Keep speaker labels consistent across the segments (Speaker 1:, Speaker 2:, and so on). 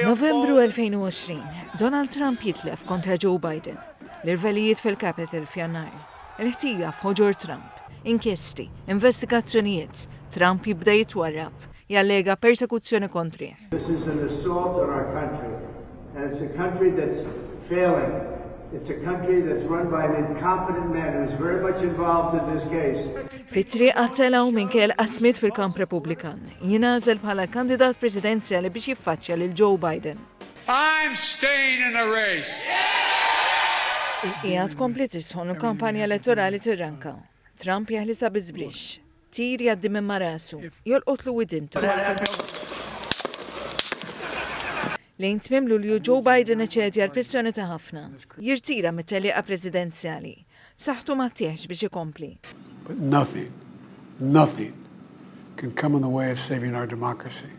Speaker 1: Novembru 2020,
Speaker 2: Donald Trump jitlef kontra Joe Biden, l-irvelijiet fil-Capitol f'Jannar, il-ħtija f'ħoġor Trump, inkjesti, investigazzjonijiet, Trump jibda jitwarrab, jallega persekuzzjoni kontrih. This is an assault
Speaker 3: on our country and it's a country that's failing. It's a country that's run by an incompetent man who's very much involved in this case. Fitri għattela
Speaker 2: u minn kell qasmit fil-kamp Republikan. Jinazel bħala kandidat presidenzjali biex jiffaċċja lil Joe Biden. I'm
Speaker 4: staying in the race. Il-qijat
Speaker 2: kompli tisħon u kampanja elettorali tirranka. Trump jeħlisa bizbrix. Tir jgħaddi minn ma' rasu. Jolqotlu widintu. Lejn tmiem Lulju Joe Biden iċedi għall-pressjoni ta' ħafna. Jirtira mit-tellieqa presidenzjali. Saħħtu ma ttieħx biex ikompli. But nothing,
Speaker 5: nothing can come in the way of saving our democracy.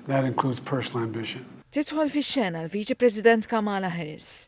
Speaker 5: That includes personal ambition. Tidħol fix-xena
Speaker 2: l-Viċi President Kamala Harris.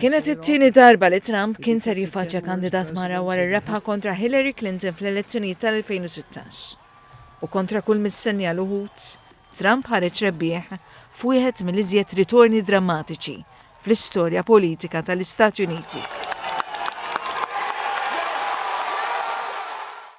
Speaker 2: Kienet it-tieni darba li Trump kien ser jiffaċċja kandidat mara wara r-rebħa kontra Hillary Clinton fl-elezzjonijiet tal-2016. U kontra kull mistennija l uħud, Trump ħareġ rebbieħ f'wieħed mill-iżjed ritorni drammatiċi fl-istorja politika tal-Istati Uniti.